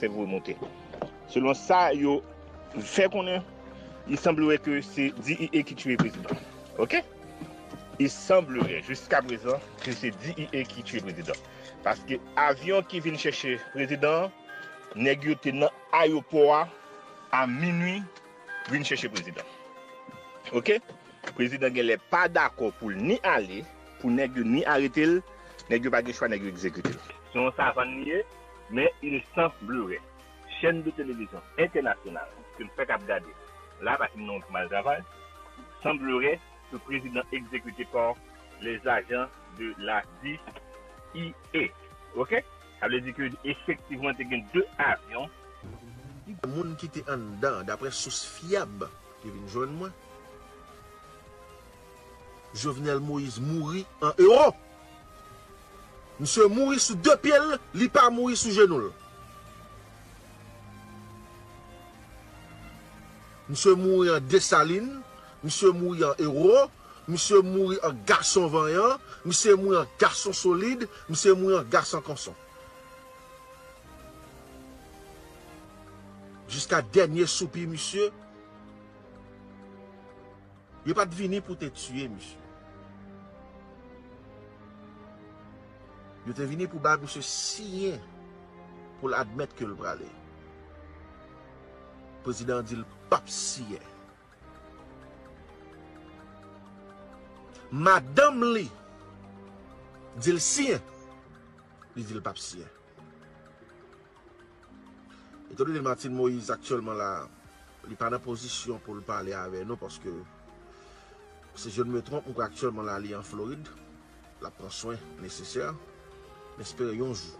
Fèv remotè. Selon sa yo fè konnen, il semblerait que se DIE ki tuye prezidan. Ok? Il semblerait, jiska prezan, ke se DIE ki tuye prezidan. Paske avyon ki vin chèche prezidan an, nèg yo te nan ayopò a, a minui, vin chèche prezidan. Ok? Prezidan genlè pa dakò pou l ni ale, pou nèg yo ni arete l, nèg yo pa gen chwa, nèg yo egzekite l. Se yon savann li ye. Men il sans blure chèn de televizyon entènasyonal ke n fèk ap gade la pa ki non mal travay sans blure ke prezidan egzekite pa les agents de la DIE ok sa vle di ke efektivman te gen 2 avyon. Plizyè moun ki te anndan, daprè sous fyab ki vin jwenn mwen, Jovenel Moïse mouri an Europe. Misye mouri sou 2 pye l, li pa mouri sou jenou l. Misye mouri an Desalin, misye mouri an ewo, misye mouri an gason vanyan, misye mouri an gason solid, misye mouri an gasan kanson. Jiska dènye soupi misye. Yo pat vini pou te tiye misye. Yo te vini pou bay misye siyen pou l admèt ke l prale. Prezidan an di l pap siyen. Madanm li di l siyen. Li di l pap siyen. Etan done Martine Moïse aktyèlman la li pa nan pozisyon pou l pale avè nou paske si je ne me trompe m kwè aktyèlman la li an Florid l ap pran swen nesesè m espere yon jou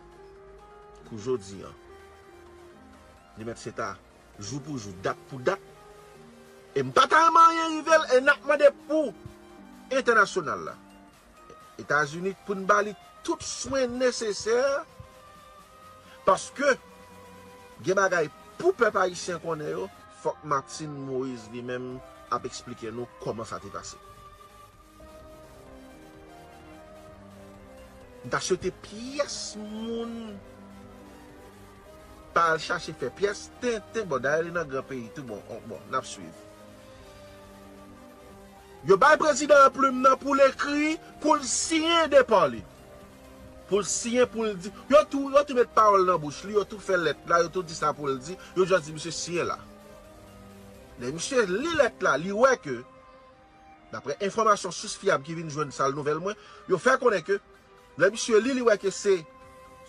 kou jodi an li mèt se ta jou pou jou dat pou dat e m pa ta renmen anyen rive l e n ap mande pou entènasyonal la. Etazini pou n ba li tout swen nesesè paske gen bagay pou pèp ayisyen konnen yo. Fòk Martine Moise li menm ap eksplike nou kòman sa te pase. M ta swete pyès moun pa al chache fè pyès tenten, bon dayè li nan gran peyi tou bon, bon n ap swiv. Yo bay prezidan an plim nan pou l ekri, pou l siyen depa li. Pou l siyen, pou l di. Yo tou, yo tou met pawòl nan bouch li, yo tou fè lèt la, yo tou di sa pou l di, yo jis di misye siyen la. Lè misye li lèt la, li wè ke, daprè enfòmasyon sous fyab ki vin jwenn sal nouvèl mwen, yo fè konnen ke, lè misye li, li wè ke se,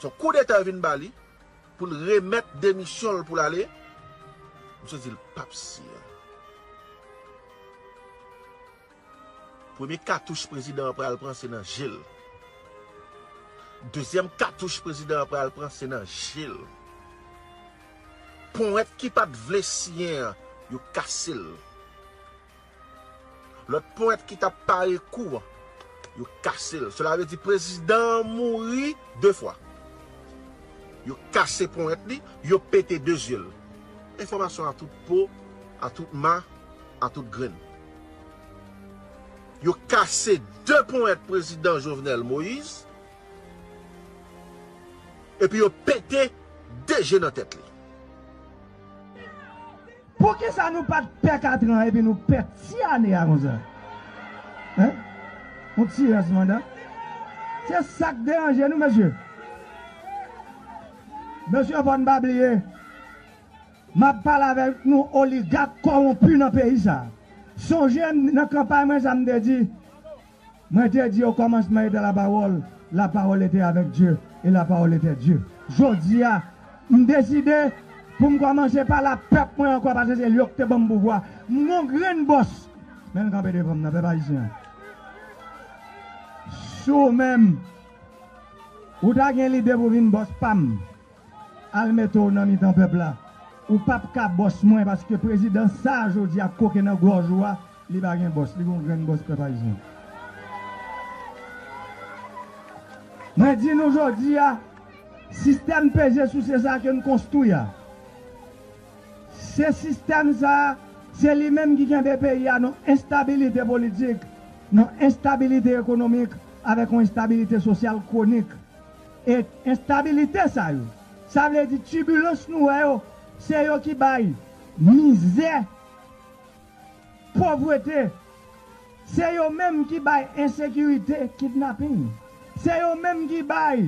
son koudeta yo vin ba li, Pou l remèt demisyon l pou l ale, misye di l pap siyen. Premye katouch prezidan an pral pran se nan je l. Dezyèm katouch prezidan an pral pran se nan je l. Powèt ki pat vle siyen an, yo kase l. Lòt ponyèt ki tap pare kou an, yo kase l. Sela vle di prezidan an mouri 2 fwa. Yo kase ponyèt li, yo pete 2 zye l. Enfòmasyon a tout po, a tout ma, a tout grenn. Yo kase 2 ponyèt prezidan Jovenel Moïse, epi yo pete 2 je nan tèt li. Poukisa nou pat pè katran epi nou pè ti ane a konsa hein yon ti rès manda se sak deranje nou mesye mesye fòn pa bliye map pale avèk nou oligak kòwonpi nan peyi sa sonje nan kanpay mwen sa mte di Mwen te di o kòmansman eta lapawòl, lapawòl ete avèk Dye, e lapawòl etè Dye. Jodi a, m deside pou m kòmanse pale a pèp mwen ankò pase se yo ki te ban m pouvwa. M gon grenn bòs, men l kanpe devan m nan, pèp ayisyen an. Si w menm, ou ta gen lide pou vin bòs pa m, Al mete w nan mitan pèp la. Ou pap ka bòs mwen paske prezidan sa a jodi a koke nan gòj ou a li pa gen bòs li gon grenn bòs pèp ayisyen. Mwen di nou jodi a sistèm peze souse sa a ke n konstwi a se sistèm sa a se li menm ki kenbe peyi a nan enstabilite politik nan enstabilite ekonomik avèk yon enstabilite sosyal kwonik E enstabilite sa yo, sa vle di tibilans nou wè yo, se yo ki bay mizè, povrete, se yo menm ki bay ensekirite, kidnaping, se yo menm ki bay,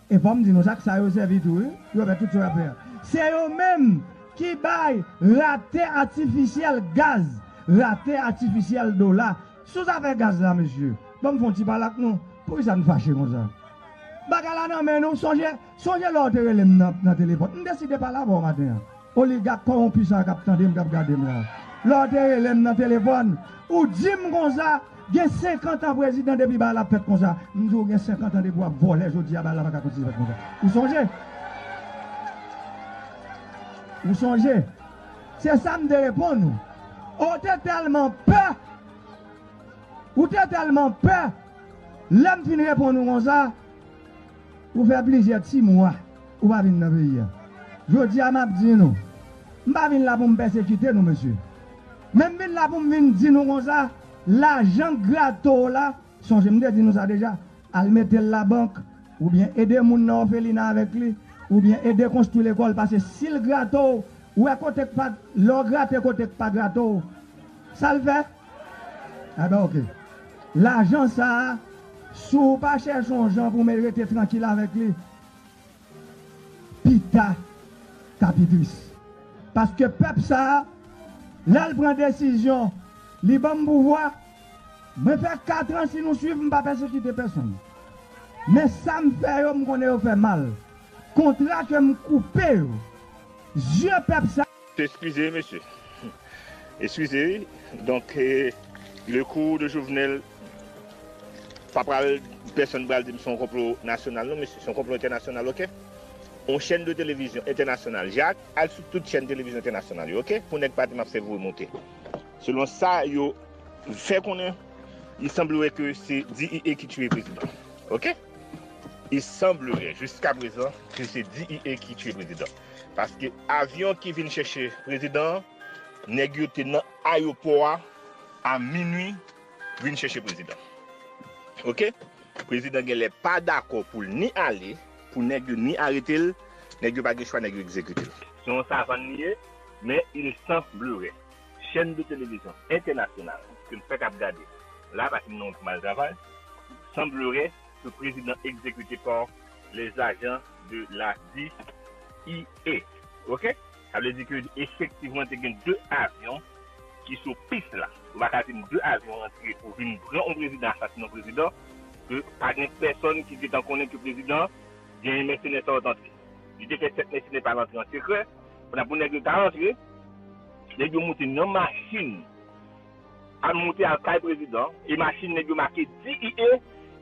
e fò m di nou sa ak sa yo sèvi tou wi, yo fè tout sa yo ap fè a, se yo menm ki bay rate atifisyèl gaz, rate atifisyèl dola. Sou zafè gaz la mesye, ban m fè yon ti pale ak nou, poukisa n fache konsa? Bagay la nan men nou, sonje sonje lè w te rele m nan telefòn, m deside pale avè w maten an, oligak kowonpi sa a k ap tande m, k ap gade m la a. Lè w te rele m nan telefòn, ou di m konsa, gen senkantan prezidan depi bagay la ap fèt konsa, m di w gen senkantan depi w ap vòlè jodi a bagay la pa ka kontinye fèt konsa. Ou sonje? Ou sonje? Se sa m te reponn ou. O w te tèlman pè! Ou te tèlman pè! Lè m fin reponn ou konsa, ou fè plizyè ti mwa ou pa vin nan peyi a. Jodi a m ap di nou, m pa vin la pou m pèsekite nou mesye. Men m vin la pou m vin di nou konsa, lajan grato w la, Sonje m te di nou sa deja, al mete l labank, oubyen ede moun nan òfelina avèk li, oubyen ede konstwi lekòl pase si l grate w, wè kote k pa, lè w grate kote k pa grate w, sa l fè? Enben ok. Lajan sa a, si w pa chèche yon jan pou w rete trankil avèk li, Pita ka pi tris. Paske pèp sa a, lè l pran desizyon, li ban m pouvwa. Mwen fè katran si nou suiv m pa pèsekite pèsonn. Men sa m fè yo m konnen yo fè mal. Kontra ke m koupe yo. Zye pèp sa. Eskize wi mesye. Eskize wi. Donk le kou de Jovenel. Pa pral pèsonn pral dim son konplo nasyonal non mesye son konplo entènasyonal ok on chèn de televizyon entènasyonal jak al sou tout chèn televizyon entènasyonal yo ok pou nèg pa dim ap fè vwe moute selon sa yo fè konnen il semblerait ke se DIE ki tuye prezidan ok il semblerait jiska prezan ke se DIE ki tuye prezidan paske avyon ki vin chèche prezidan nèg yo te nan. ayopò a a minwi vin chèche prezidan ok prezidan genlè pa dakò poul ni ale pou nèg yo ni aretel nèg yo pa gen chwa nèg yo egzekitel. Se yon savann li ye men il san blure chèn de televizyon entènasyonal ke m fèk ap gade la pase m nan yon ti mal travay san blure ke prezidan egzekite pa les agents de la DIA ok. Sa vle di ke efektivman te gen 2 avyon ki sou pis la. Ou pa ka di m 2 avyon rantre pou vin pran on prezidan, asasinen on prezidan, ke pa gen pèsòn ki gentan konnen ke prezidan genyen mèsenè sa yo t antre. Li te fè 7 mèsenè pa al antre an sekrè, pou n ap pou nèg yo ta rantre, nèg yo moute nan machin, al moute al kay prezidan, e machin nèg yo make DIE,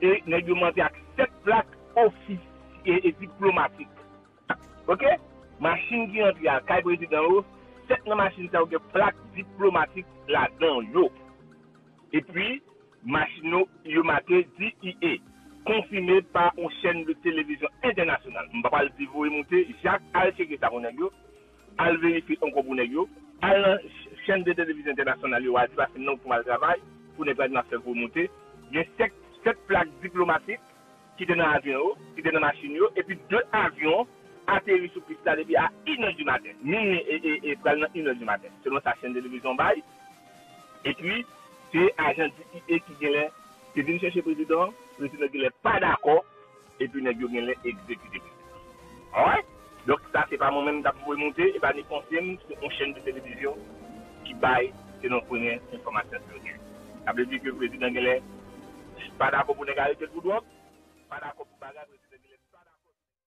e nèg yo monte ak 7 plak ofisye e diplomatik. Ok machin ki antre a kay prezidan yo 7 nan machin sa yo gen plak diplomatik ladan yo epi machin yo yo make DEA konfime pa on chèn de televizyon entènasyonal m pa pral di voye moute jak al tcheke sa pou nèg yo al verifye ankò pou nèg yo al nan chèn de televizyon entènasyonal yo al di pase nan pou al travay pou nèg pa di map fè voye moute gen 7 plak diplomatik ki te nan avyon yo, ki te nan machin yo, epi 2 avyon ateri sou pis la depi a inè di maten, minwi e pral nan inè di maten, selon sa chèn televizyon an bay. Epi, se ajan DEA ki genlè te vin chèche prezidan an, prezidan genlè pa dakò, epi nèg yo genlè egzekite prezidan an. Alright? Donk sa se pa mwen menm kap voye moute, epa ni konse'm se yon chèn de televizyon ki bay selon premye enfòmasyon ke mwen gen. Sa vle di ke prezidan genlè pa dakò pou nèg arete'l pou dwòg, pa dakò pou bagay prezidan genlè pa dakò.